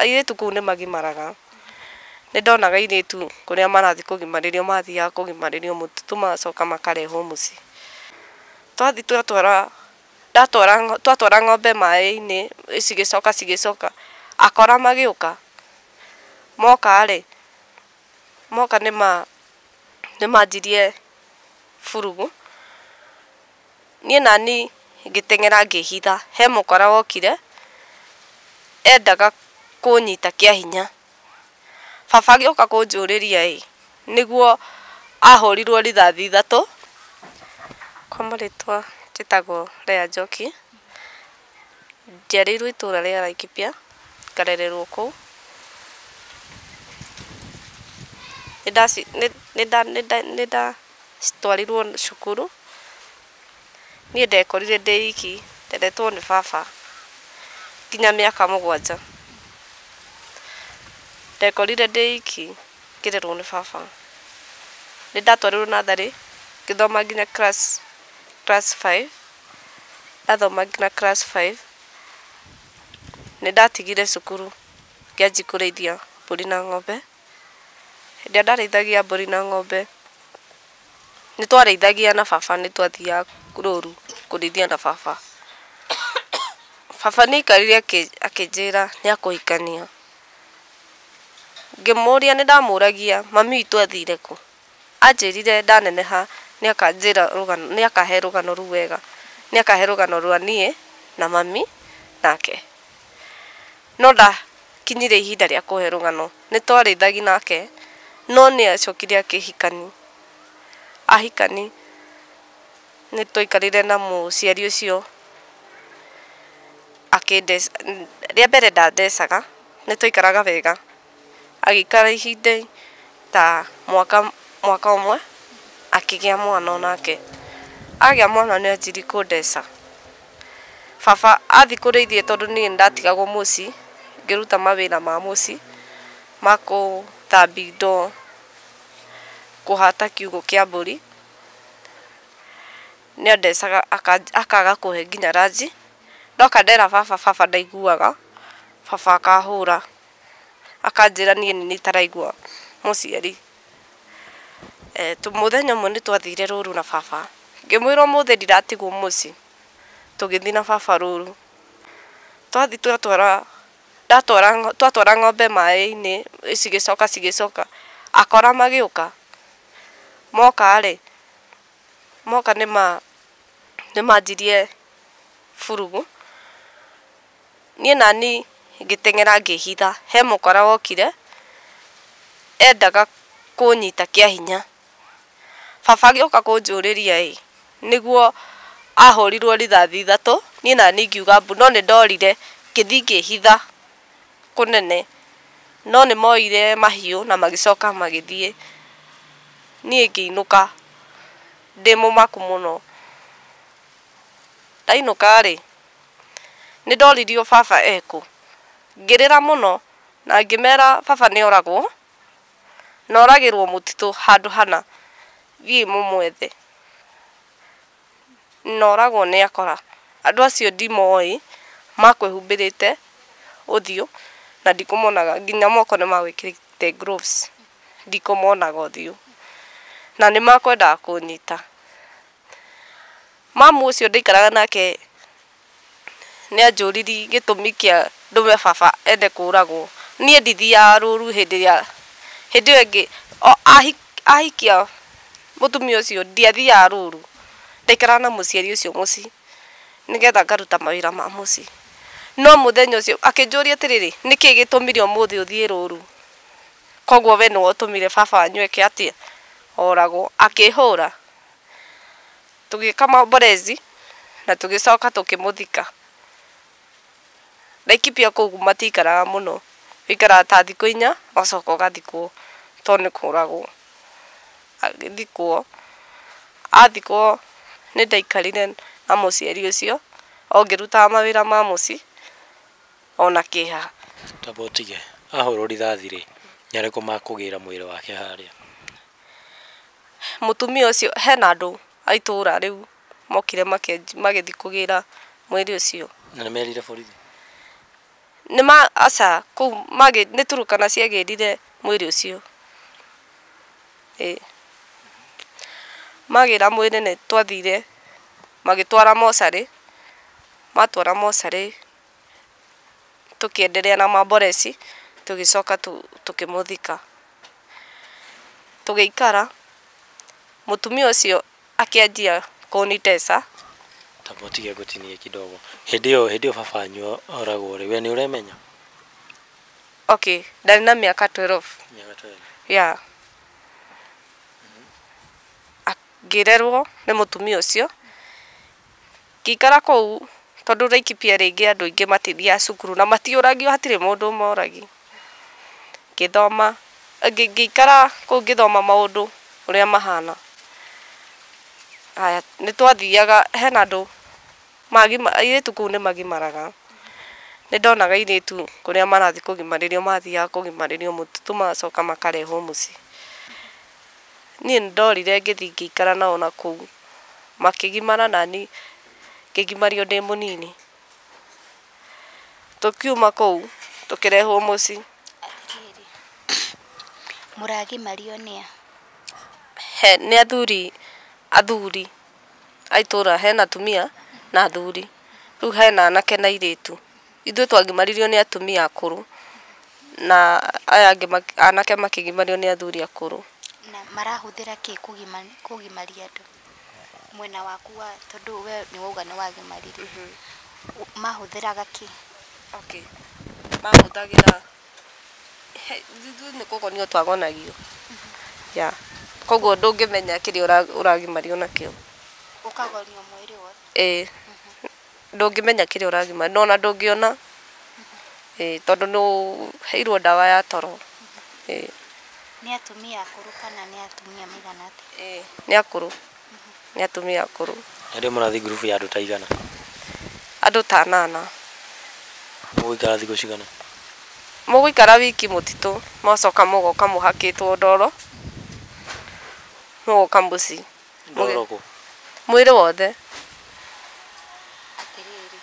Airĩtu kũu nĩ magimaraga. Nĩ ndonaga airĩtu kũrĩa marathiĩ kũgimarĩrio mathiaga kũgimarĩrio mũtitũ magacoka makarehwo mũciĩ. Twathiĩ twatwara, ndatwara, twatwara ng'ombe maĩ-inĩ cigĩcoka cigĩcoka, akora magĩũka, moka rĩ, moka nĩ manjirie burugu. niĩ nani ngĩteng'era ngĩhitha, he mũkora wokire endaga kũnyita kĩa hinya. Baba agĩũka kũnjũrĩria ĩ, nĩguo ahũrirwo rithathi ithatũ, kwa marĩtwa njĩtagwo Leah Njoki, njiarĩirwo itũra rĩa Laikipia, ngarererwo kũu. Nĩnda nĩnda nĩnda. citwarirwo cukuru, niĩ ndekorire ndĩ iki ndendetwo nĩ baba nginya mĩaka mũgwanja. Ndekorire ndĩ iki ngĩrerwo nĩ baba. Nĩ ndatwarirwo natharĩ ngĩthoma nginya class class five, ndathoma nginya class five nĩ ndatigire cukuru ngĩanjia kũrĩithia mbũri na ng'ombe. Hĩndĩ ĩrĩa ndarĩithagia mbũri na ng'ombe, nĩ twarĩithagia na baba nĩ twathiaga rũru kũrĩithia na baba. Baba nĩ aikarire akĩnjĩra nĩ akũhikania. Ngĩmũria nĩ ndamũragia mami witũ athire kũ? Aanjĩĩrire ndaneneha nĩakanjĩĩra rũgano, nĩakahe rũgano rũu wega. Nĩakahe rũgano rwa niĩ na mami nake. No ndakinyire ihinda rĩa kũhe rũgano. Nĩtwarĩithagi nake, no nĩacokire akĩhikani. Ahikani, nĩtwaikarire na mũciari ũcio akĩndeca, rĩa mbere ndandecaga, nĩtwaikaraga wega Agĩikara ihinda ta mwaka mwaka ũmwe akĩgĩa mwana o nake. Agĩa mwana nĩ anjirie kũndeca. Baba athiĩ kũrĩithia tondũ niĩ nĩ ndatigagwo mũciĩ ngĩruta mawĩra ma mũciĩ ma gũthambia indo, kũhata kiugũ kĩa mbũri, nĩ andecaga akaga kũhe nginya ranji. Ndoka ndera baba, baba ndaiguaga, baba akahũra. akanjĩra niĩ nĩ niĩ itaraigua mũciari. Mũthenya ũmwe nĩ twathire rũru na baba, ngĩmwĩra ũmũthĩ ndiratigwo mũciĩ, tũgĩthiĩ na baba rũru. Twathiĩ twatwara, ndatwara twatwara ng'ombe maĩ-inĩ cigĩcoka cigĩcoka, akora magĩũka, moka rĩ, moka nĩ ma nĩ manjirie burugu. niĩ nani ngĩteng'era ngĩhitha, he mũkora wokire endaga kũnyita kĩa hinya. Baba agĩũka kũnjũrĩria ĩ, nĩguo ahũrirwo rithathi ithatũ, niĩ nani ngiuga mbu, no nĩ ndorire ngĩthiĩ ngĩhitha kũnene. No nĩ moire mahiũ na magĩcoka magĩthiĩ, niĩ ngĩinũka ndĩ mũmaku mũno. Ndainũka rĩ... nĩ ndoririo baba ekũ, ngĩrĩra mũno na ngĩmera baba nĩ oragwo, na oragĩrwo mũtitũ handũ hana, thiĩi mũmwethe, na oragwo nĩ akora, andũ acio ndimoĩ, makwĩhumbĩrĩte ũthiũ na ndikũmonaga, nginya moko nĩ magwĩkĩrĩte gloves, ndikũmonaga ũthiũ, na nĩ makwendaga kũnyita. Mamu ũcio ndaikaraga nake nĩ anjũriri gĩtũmi kĩa ndũme baba ende kũragwo. Niĩ ndithiaga rũru hĩndĩ ĩrĩa, hĩndĩ ĩyo ĩngĩ ahikia mũtumia ũcio ndiathiaga rũru, ndaikaraga na mũciari ũcio mũciĩ nĩ getha ngaruta mawĩra ma mũciĩ. No mũthenya ũcio akĩnjũria atĩrĩrĩ, nĩkĩ gĩtũmire ũmũthĩ ũthiĩ rũru? Koguo we nĩwe ũtũmire baba wanyu eke atĩa? Oragwo. Akĩhũra. tũgĩka maomborezi na tũgĩcoka tũkĩmũthika. Laikipia kũu matiikaraga mũno, ũikaraga ta thikũ inya ũgacoka ũgathikwo to nĩ kũragwo. Agĩthikwo, athikwo nĩ ndaikarire na mũciari ũcio o ngĩrutaga mawĩra ma mũciĩ ona kĩeha. Twambe ũtige, ahũrwo rithathi-rĩ, nĩarĩkũ makũgĩra mwĩrĩ wake harĩa? mũtumia ũcio, hena andũ a itũũra rĩu mokire makenj- magĩthiĩ kũgĩra mwĩrĩ ũcio. Na nĩ merire borithi. Nĩ ma, aca, kũu magĩ, nĩ Turkana ciagĩrire mwĩrĩ ũcio. Ĩĩ. Magĩra mwĩrĩ nĩ twathire, magĩtwara mocarĩ, matwara mocarĩ. tũkĩenderea na mamboreci, tũgĩcoka tũkĩmũthika. Tũgĩikara, mũtumia ũcio akĩanjia kũnitesa. Taba ũtige gũtinia kidogo. Hĩndĩ ĩyo, hĩndĩ ĩyo baba wanyu oragwo rĩ, we nĩ ũremenya? Okay, ndarĩ na mĩaka twelve. Mĩaka twelve. Yeah. Ngĩrerwo nĩ mũtumia ũcio. Ngĩikara kũu, tondũ Laikipia rĩngĩ andũ aingĩ matithiaga cukuru na matiũragio hatirĩ mũndũ ũmoragia. Ngĩthoma, ngĩikara kũu ngĩthoma maũndũ ũrĩa mahana. Haya, nĩ twathiaga, hena andũ, airĩtu kũu nĩ magimaraga. Nĩ ndonaga airĩtu kũrĩa marathiĩ kũgimarĩrio mathiaga kũgimarĩrio mũtitũ magacoka makarehwo mũciĩ. Niĩ nĩndorire ngĩthiĩ ngĩikara nao na kũu, makĩgimara naniĩ ngĩgimario ndĩ mũnini. Tũkiuma kũu tũkĩrehwo mũciĩ. Atĩrĩrĩ, mũragimario nĩ a? He, nĩ athuri, athuri a itũũra, hena atumia na athuri, rĩu hena anake na airĩtu. Ithuĩ twagimaririo nĩ atumia akũrũ, na aya angĩ anake makĩgimario nĩ athuri akũrũ. Na marahũthĩra kĩ kũgimaria andũ? Mwena waku wa tondũ we nĩ wauga nĩ wagimaririo. Mahũthĩraga kĩ? Okay. Mahũthagĩra, ithuĩ nĩ kũgonio twagonagio. Yeah. Kũguo ndũngĩmenya kĩrĩa ũragimario nakĩo. Ũkagonio mwĩrĩ wothe? Ĩĩ. ndũngĩmenya kĩrĩa ũragima na ona ndũngĩona ĩĩ tondũ nĩ ũheirwo ndawa ya toro ĩĩ. Nĩ atumia akũrũ kana nĩ atumia maigana atĩa? Ĩĩ nĩ akũrũ nĩ atumia akũrũ. Nĩ rĩ mũrathiĩ ngurubu ya andũ ta aigana? Andũ ta anana. Mũgũikara thikũ cigana? Mũgũikara wiki mũtitũ mũgacoka mũgoka mũhakĩtwo ndoro mũgoka mũciĩ. Ndorogo. Mwĩrĩ wothe. Atĩrĩrĩ,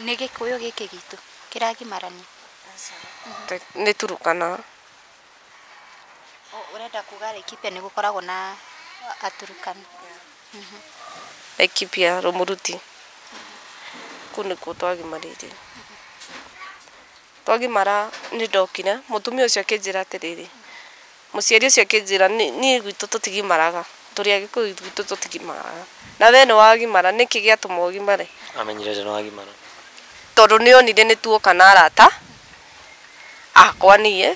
nĩ Gĩkũyũ gĩkĩ gitũ kĩragimarania? Aca. Nĩ Turukana. Ũrenda kuga Laikipia nĩ gũkoragwo na Aturukana? Laikipia, Rumuruti. Kũu nĩkuo twagimarĩire. Twagimara nĩ ndokire, mũtumia ũcio akĩnjĩra atĩrĩrĩ. Mũciari ũcio akĩnjĩra, Niĩ gwitũ tũtigimaraga. Tũrĩ Agĩkũyũ gwitũ tũtigimaraga. Na wee nĩ wagimara. Nĩ kĩĩ gĩatũma ũgimare? Aamenyire atĩa nĩ wagimara? Tondũ nĩ onire nĩ tuoka na arata akwa niĩ,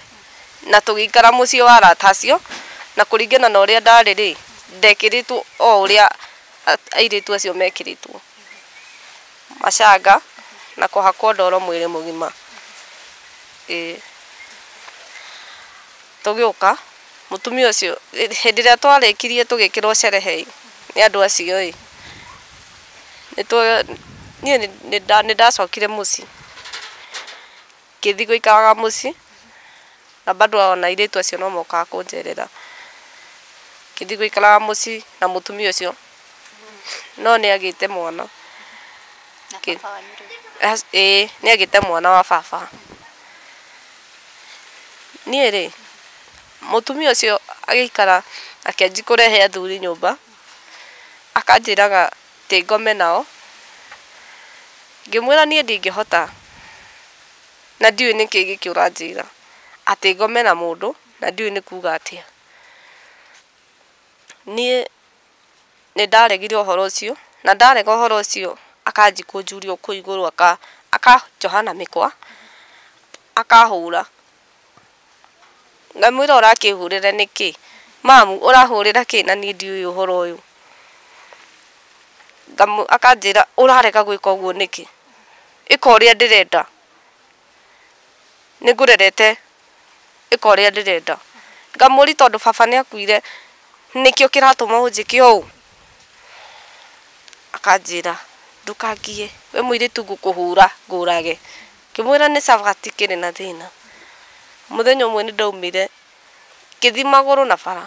na tũgĩikara mũciĩ wa arata acio, na kũringana na ũrĩa ndarĩ-rĩ, ndekĩrĩtwo o ũrĩa airĩtu acio mekĩrĩtwo. Macanga na kũhakwo ndoro mwĩrĩ mũgima. Ĩĩ. Tũgĩũka, mũtumia ũcio, hĩndĩ ĩrĩa twarĩkirie tũgĩkĩrwo sherehe ĩ, nĩ andũ acio ĩ, nĩ niĩ nĩ ndacokire mũciĩ. Ngĩthiĩ gũikaraga mũciĩ, na bado o na airĩtu acio no mokaga kũnjerera. Ngĩthiĩ gũikaraga mũciĩ na mũtumia ũcio, no nĩ agĩte mwana. Ĩĩ, nĩ agĩte mwana wa baba. Niĩ rĩ, mũtumia ũcio agĩikara akĩanjia kũrehe athuri nyũmba, akanjĩraga Atĩ ngome nao. Ngĩmwĩra niĩ ndingĩhota, na ndiũĩ nĩ kĩĩ gĩkĩ ũranjĩra. Atĩ ngome na mũndũ, na ndiũĩ nĩ kuuga atĩa. Niĩ nĩ ndaregire ũhoro ũcio, na ndarega ũhoro ũcio akanjia kũnjuria o kũu igũrũ akanjoha na mĩkwa, akahũra. Ngamwĩra ũrakĩhũrĩra nĩkĩ? Mamu ũrahũrĩra kĩ na niĩ ndiũĩ ũhoro ũyũ? Akanjĩra ũrarega gwĩka ũguo nĩkĩ? Ĩka ũrĩa ndĩrenda. Nĩ ngũrerete ĩka ũrĩa ndĩrenda. Ngamũũria tondũ baba nĩ akuire nĩkĩo kĩratũma ũnjĩke ũũ? Akanjĩra ndũkangiye we mũirĩtu ngũkũhũra ngũrage. Ngĩmwĩra nĩ cabati kĩrĩ na thĩna. Mũthenya ũmwe nĩndaumire ngĩthiĩ magũrũ na bara,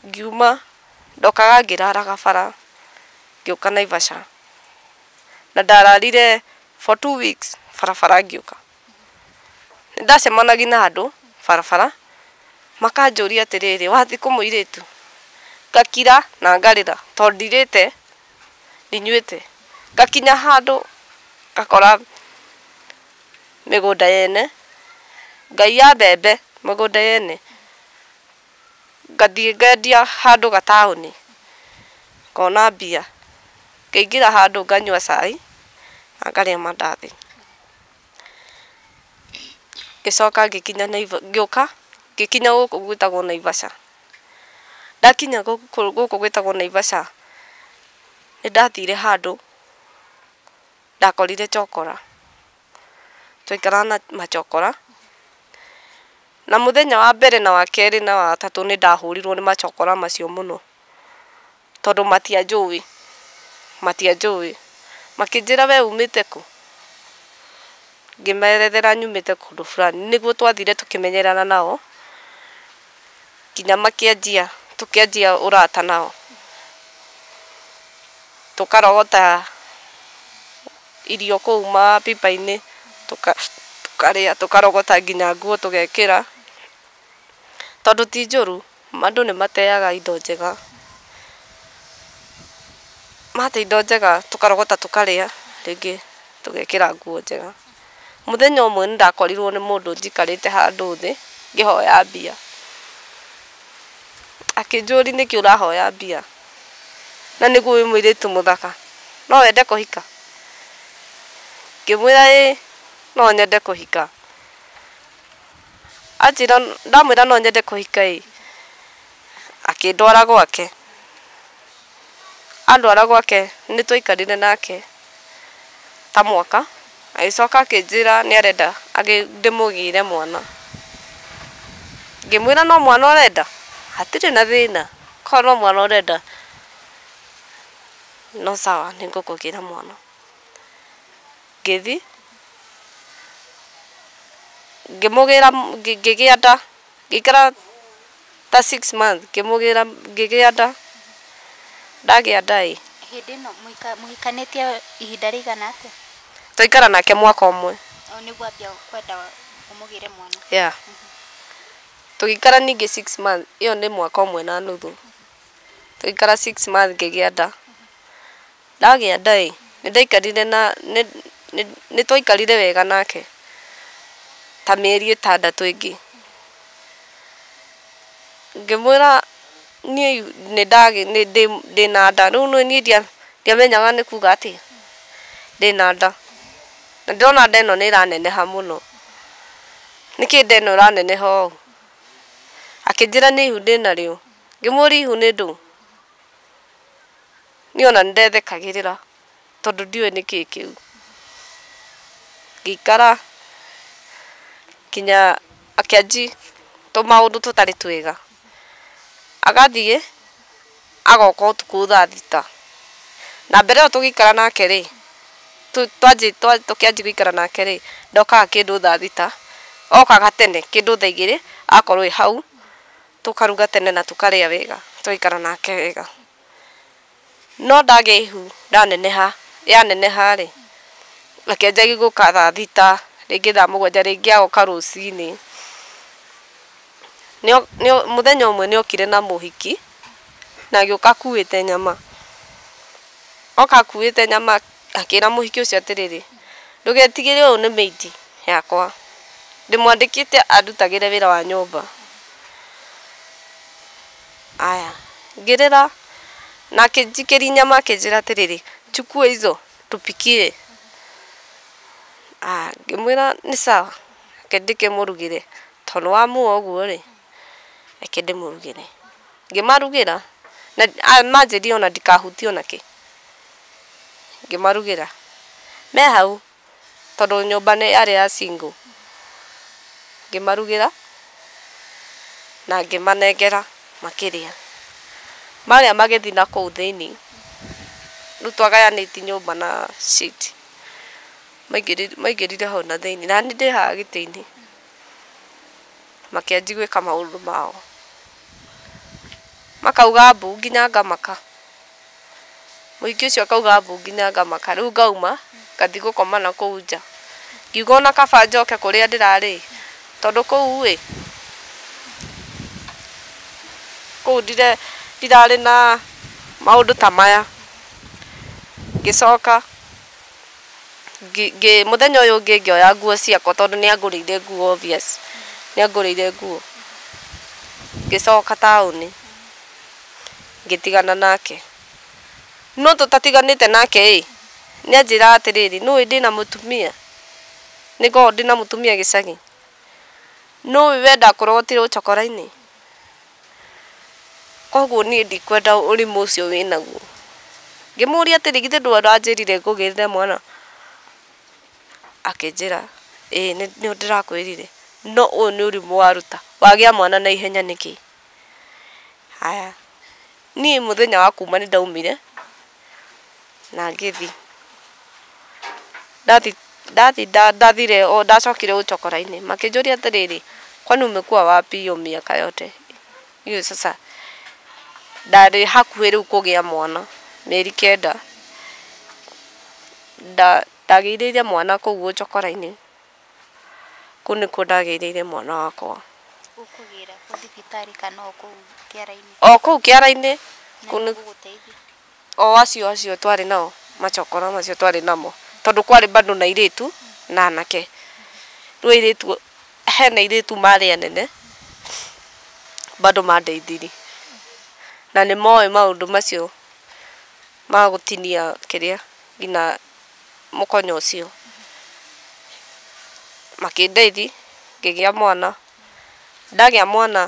ngiuma, ndokaga ngĩraraga bara ngĩũka Naivasha, na ndararire for two weeks barabara ngĩũka. Nĩndacemanagia na andũ barabara makanjũria atĩrĩrĩ, wathiĩ kũ mũirĩtu? Ngakira na ngarĩra tondũ ndirĩte. ndinyuĩte. Ngakinya handũ ngakora mĩgũnda yene, ngaiya mbembe mĩgũnda yene, ngathiĩ ngendia handũ gataũni ngona mbia, ngaingĩra handũ nganyua cai na ngarĩa mandathi. Ngĩcoka ngĩkinya Naivasha, ngĩũka ngĩkinya gũkũ gwĩtagwo Naivasha. Ndakinya gũkũ gwĩtagwo Naivasha, nĩ ndathire handũ ndakorire chokora. Twaikara na machokora, na mũthenya wa mbere na wa kerĩ na wa gatatũ nĩ ndahũrirwo nĩ machokora macio mũno. Tondũ matianjũĩ, matianjũĩ. Makĩnjĩra we umĩte kũ? Ngĩmerethera nyumĩte kũndũ fulani. Nĩguo twathire tũkĩmenyerana nao, nginya makĩanjia, tũkĩanjia ũrata nao. Tũkarogota irio kũu mapipa-inĩ, tũkarĩa, tũkarogota nginya nguo tũgekĩra. Tondũ ti njũru. Andũ nĩ mateaga indo njega, mate indo njega tũkarogota tũkarĩa, rĩngĩ tũgekĩra nguo njega. Mũthenya ũmwe nĩ ndakorirwo nĩ mũndũ njikarĩte handũ thĩ ngĩhoya mbia, akĩnjũria nĩkĩ ũrahoya mbia na nĩguo wĩ mũirĩtu mũthaka no wende kũhika? Ngĩmwĩra ĩĩ no nyende kũhika. Anjĩra ndamwĩra no nyende kũhika ĩ, akĩndwara gwake. Andwara gwake nĩ twaikarire nake ta mwaka, agĩcoka akĩnjĩra nĩ arenda ndĩmũgĩre mwana. Ngĩmwĩra no mwana ũrenda, hatirĩ na thĩna, korwo no mwana ũrenda no sawa nĩ ngũkũgĩra mwana. Ngĩthiĩ, ngĩmũgĩra, ngĩgĩa nda, ngĩikara ta six months ngĩmũgĩra, ngĩgĩa nda, ndagĩa nda ĩ. Hĩndĩ ĩno mũhikanĩtie ihinda rĩigana atĩa? Twaikara nake mwaka ũmwe. Rĩu nĩguo wambia kwenda ũmũgĩre mwana? Yeah. Tũgĩikara ningĩ six months, ĩyo nĩ mwaka ũmwe na nuthu. Tũgĩikara six months ngĩgĩa nda. Ndagĩa nda-ĩ, nĩndaikarire na, nĩ, nĩ, nĩtwaikarire wega nake ta mĩeri ĩtandatũ ĩngĩ. Ngĩmwĩra niĩ nĩndagĩ, nĩ, ndĩ, ndĩna nda, rĩu nĩ niĩ ndia, ndiamenyaga nĩ kuga atĩa, ndĩna nda. Na ndĩrona nda ĩno nĩĩraneneha mũno. Nĩkĩĩ nda ĩno ĩraneneha ũũ? Akĩnjĩra nĩ ihu ndĩnarĩo. Ngĩmũria ihu nĩ ndũ? Niĩ ona nĩ ndethekagĩrĩra tondũ ndiũĩ nĩkĩĩ kĩu. Ngĩikara nginya akĩanji tũmaũndũ tũtarĩ twega. Agathiĩ agoka ũtukũ thaa thita. Na mbere ĩyo tũgĩikara nake rĩ, tũkĩanji gũikara nake rĩ, ndokaga kĩndũ thaa thita, okaga tene kĩndũ thaa igĩrĩ agakorwo e hau, tũkaruga tene na tũkarĩa wega, tũgaikara nake wega. No ndagĩa ihu ndaneneha, yaneneha-rĩ, reke njage gũka thaa thita, rĩngĩ thaa mũgwanja, rĩngĩ agoka rũcinĩ. Mũthenya ũmwe nĩ okire na mũhiki, na agĩũka akuĩte nyama. Oka akuĩte nyama, akĩra mũhiki ũcio atĩrĩrĩ, ndũgetigĩre ũyũ nĩ maid yakwa, ndĩmwandĩkĩte andutagĩre wĩra wa nyũmba. Aya, ngĩrĩra, na akĩnjikĩria inyama akĩnjĩra atĩrĩrĩ, chukua hizo tupikie. Ah, ngĩmwĩra nĩ sawa, reke ndĩkĩmũrugĩre, to nĩ wa muoa ũguo rĩ, reke ndĩmũrugĩre. Ngĩmarugĩra, na ah, manjĩrire ona ndikahutie ona kĩ. Ngĩmarugĩra, me hau. tondũ nyũmba nĩ yarĩ ya single, ngĩmarugĩra na ngĩmanengera makĩrĩa. Marĩa magĩthiĩ na kũu thĩinĩ, rĩu twagayanĩtie nyũmba na seat, maingĩrire hau na thĩinĩ na niĩ ndĩ haha gĩtĩ-inĩ makĩanjia gwĩka maũndũ mao, makauga mbu nginya ngamaka. Mũhiki ũcio akauga mbu nginya ngamaka. Rĩu ngauma ngathiĩ gũkoma na kũu nja. Ngiuga o na kaba njoke kũrĩa ndĩrarĩ-ĩ, tondũ kũu-ĩ, kũu ndirarĩ na maũndũ ta maya. Ngĩcoka, mũthenya ũyũ ũngĩ ngĩoya nguo ciakwa tondũ nĩangũrĩire nguo obvious, nĩangũrĩire nguo, ngĩcoka taũni. ngĩtigana nake. No tũtatiganĩte nake-ĩ, nĩanjĩraga atĩrĩrĩ, nĩũĩ ndĩna mũtumia, nĩngoragwo ndĩna mũtumia gĩcagi, nĩũĩ we ndakũrogotire ũ cokora-inĩ, kuoguo niĩ ndikwenda ũrimũ ũcio wĩnaguo. Ngĩmũria atĩrĩ, githĩ ndũĩ ũranjĩrire ngũgĩrĩre mwana? Akĩnjĩra, ĩĩ nĩũ ndĩrakwĩrire, no ũyũ nĩ ũrimũ waruta, wagĩa mwana na ihenya nĩkĩ? Haya, niĩ mũthenya wa kuma nĩ ndaumire na ngĩthi ndathi ndathi ndathire o ndacokire o cokora-inĩ makĩnjũria atĩrĩrĩ kwani umekuwa wapi hiyo miaka yote? Hiyo sasa ndarĩ hakuhĩ rĩu kũgĩa mwana mĩeri kenda, ndagĩire mwana kũu o cokora-inĩ Kũu nĩkuo ndagĩirĩire mwana wakwa. Ũkũgĩra kũ thibitarĩ kana o kũu kĩara-inĩ? O kũu kĩara-inĩ. O acio acio twarĩ nao, macokora macio twarĩ namo. Tondũ kwarĩ bado na airĩtu na anake. Rĩu airĩtu, hena airĩtu marĩ anene, bado mandeithirie. Na nĩmoĩ maũndũ macio ma gũtinia kĩrĩa, nginya mũkonyo ũcio, makĩndeithia ngĩgĩa mwana, ndagĩa mwana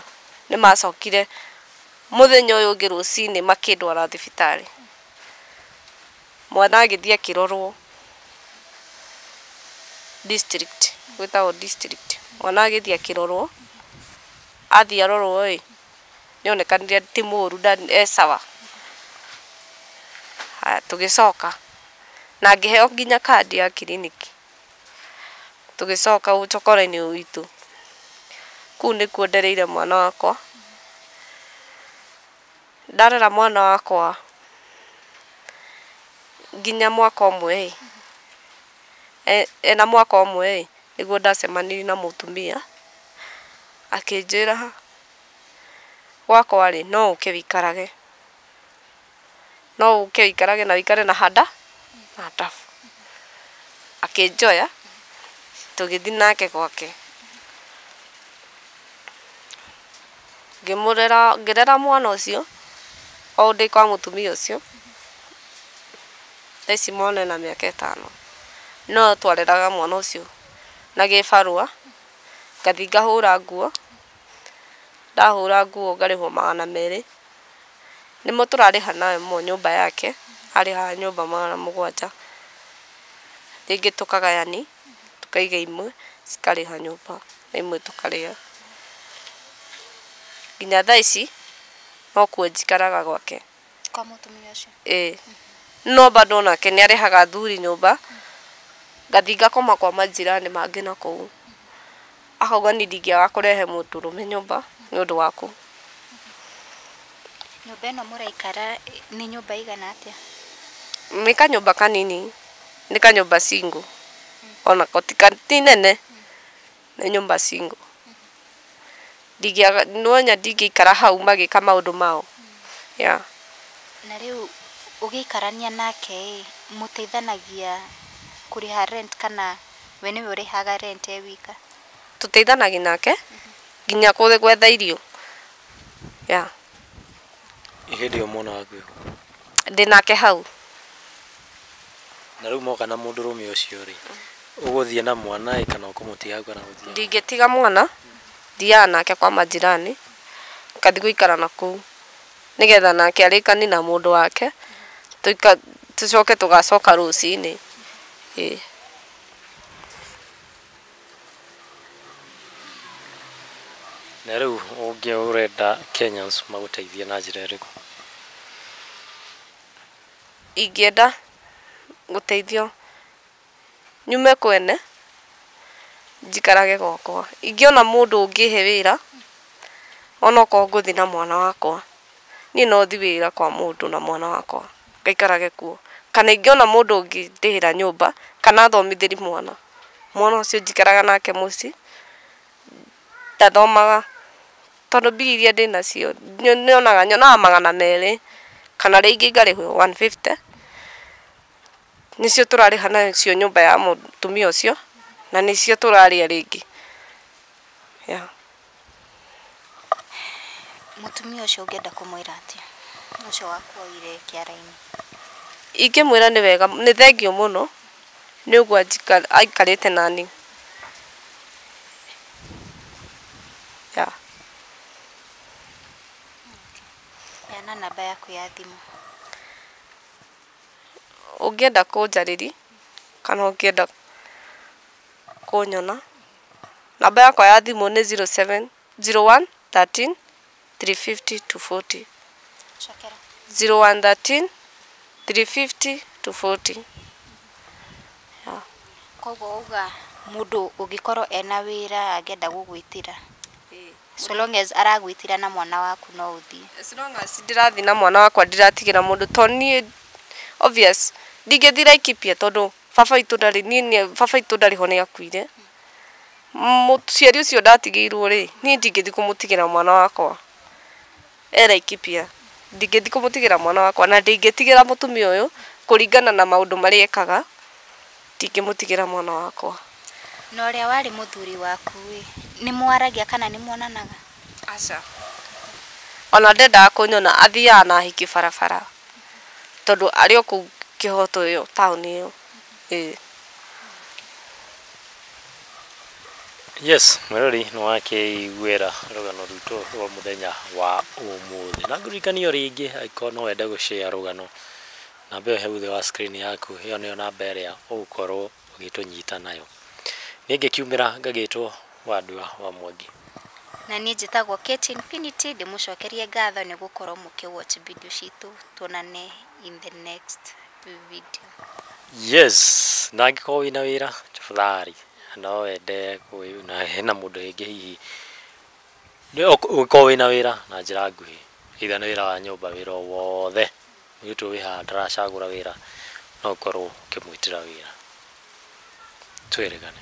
nĩ macokire mũthenya ũyũ ũngĩ rũcinĩ makĩndwara thibitarĩ, mwana agĩthiĩ akĩrorwo district gwĩtagwo district mwana agĩthiĩ akĩrorwo, athiĩ arorwo ĩ. nĩ onekanire ti mũru e sawa. Haya tũgĩcoka na ngĩheo nginya kandi ya kiriniki. Tũgĩcoka ũcokora-inĩ witũ, kũu nĩkuo ndereire mwana wakwa. Ndarera mwana wakwa nginya mwaka ũmwe ĩ, ena mwaka ũmwe ĩ, nĩguo ndacemanirie na mũtumia akĩnjĩra Gwakwa-rĩ, no ũke wĩikarage, no ũke wĩikarage na wĩikare na handa na hadabu. Akĩnjoya tũgĩthiĩ nake gwake. Ngĩmũrera, ngĩrera mwana ũcio o ndĩ kwa mũtumia ũcio. Thaa ici mwana ena mĩaka ĩtano, no twareraga mwana ũcio na gĩbarũa. ngathiĩ ngahũra nguo, ndahũra nguo ngarĩhwo magana merĩ, nĩmo tũrarĩha nayo nyũmba yake, arĩhaga nyũmba magana mũgwanja, rĩngĩ tũkagayani, tũkaiga imwe cikarĩha nyũmba na imwe tũkarĩa. Nginya thaa ici nokuo njikaraga gwake. kwa mũtumia ũcio ĩĩ no bado onake nĩ arehaga athuri nyũmba ngathi ngakoma kwa manjirani mangĩ na kũu akauga niĩ ndingĩaga kũrehe mũndũrũme nyũmba nĩ ũndũ waku nyũmba ĩno mũraikara ĩ- nĩ nyũmba ĩigana atĩa nĩ kanyũmba kanini nĩ kanyũmba single onako ti ka- ti nene nĩ nyũmba single. Nĩwonya ndingĩikara hau magĩka maũndũ mao, yeah. Na rĩu ũgĩikarania nake-ĩ, mũteithanagia kũrĩha rent kana we nĩwe ũrĩhaga rent e wika? Tũteithanagia nake nginya gwetha irio, yeah. Ĩ hĩndĩ ĩyo mwana waku e kũ? Ndĩ nake hau. Na rĩu moka na mũndũrũme ũcio-rĩ, ũgũthiĩ na mwana-ĩ kana ũkũmũtiga hau kana gũthiaga? Ndingĩtiga mwana, thiaga nake kwa manjirani, ngathiĩ gũikara na kũu nĩgetha nake arĩkanie na mũndũ wake, tũcoke tũgacoka rũcinĩ, ĩĩ. Na rĩu ũngĩ ũrenda Kenyans magũteithie na njĩra ĩrĩkũ? Ingĩenda gũteithio nyume kwene njikarage gwakwa. Ingĩona mũndũ ũngĩhe wĩra onokorwo ngũthiĩ na mwana wakwa. niĩ no thiĩ wĩra kwa mũndũ na mwana wakwa ngaikarage kuo. Kana ingĩona mũndũ ũngĩndĩhĩra nyũmba kana athomithĩrie mwana, mwana ũcio njikaraga nake mũciĩ ndathomaga. Tondũ mbia iria ndĩ nacio nyonaga, nyonaga magana merĩ kana rĩngĩ ngarĩhwo one fifty, nĩcio tũrarĩha nacio nyũmba ya mũtumia ũcio na nĩcio tũrarĩa rĩngĩ. Mũtumia ũcio ũngĩenda kũmwĩra atĩa ũcio wakuoire kĩara-inĩ? Ingĩmwĩra nĩ wega, nĩ thengiũ mũno nĩ ũguo aikarĩte na niĩ. Yeah. Heana namba yaku ya thimũ. Ũngĩenda kũnjarĩria kana ũngĩenda kũnyona. Namba yakwa ya thimũ nĩ zero seven, zero one thirteen three fifty two forty, zero one thirteen three fifty two forty. Koguo wauga mũndũ ũngĩkorwo ena wĩra angĩenda gũgwĩtĩra, so long as aragwĩtĩra na mwana waku no ũthiĩ? As long as ndĩrathiĩ na mwana wakwa ndiratigĩra mũndũ to niĩ obvious ndingĩthiĩ Laikipia tondũ baba witũ ndarĩ niĩ nĩ- baba witũ ndarĩ ho nĩ akuire mũciari ũcio ndatigĩirwo rĩ niĩ ndingĩthi kũmũtigĩra mwana wakwa e Laikipia ndingĩthi kũmũtigĩra mwana wakwa na ndingĩtigĩra mũtumia ũyũ kũringana na maũndũ marĩa ekaga ndingĩmũtigĩra mwana wakwa na ũrĩa warĩ mũthuri waku ĩ nĩ mwaragia kana nĩ mwonanaga Aca. Ona ndendaga kũnyona athiaga na ahiki barabara tondũ arĩ o kũu kĩhoto ĩyo taũni ĩyo. Ĩĩ. Yes, mwĩrori nĩ wakĩiguĩra rũgano rwitũ rwa mũthenya wa ũmũthĩ. Na ngũririkanie o rĩngĩ angĩkorwo no wende gũ share rũgano, namba ĩyo he thutha wa screen yaku, ĩyo nĩyo namba ĩrĩa ũgũkorwo ũgĩtũnyita nayo. Niĩ ngĩkiumĩra ngagĩtwo wa andũ a wa Mwangi. Na niĩ njĩtagwo Kate Infinity, ndĩmũcokerie ngatho nĩ gũkorwo mũkĩ watch video citũ. Tuonane in the next video. Yes, na angĩkorwo wĩna wĩra tafadhali no wende kũĩ na hena mũndũ rĩngĩ hihi nĩ- ũk- ũngĩkorwo wĩna wĩra na njĩra nguhĩ either nĩ wĩra wa nyũmba wĩra o wothe mũirĩtu ũyũ wĩ haha ndaracagũra wĩra no ũkorwo ũkĩmwĩtĩra wĩra twĩrĩgane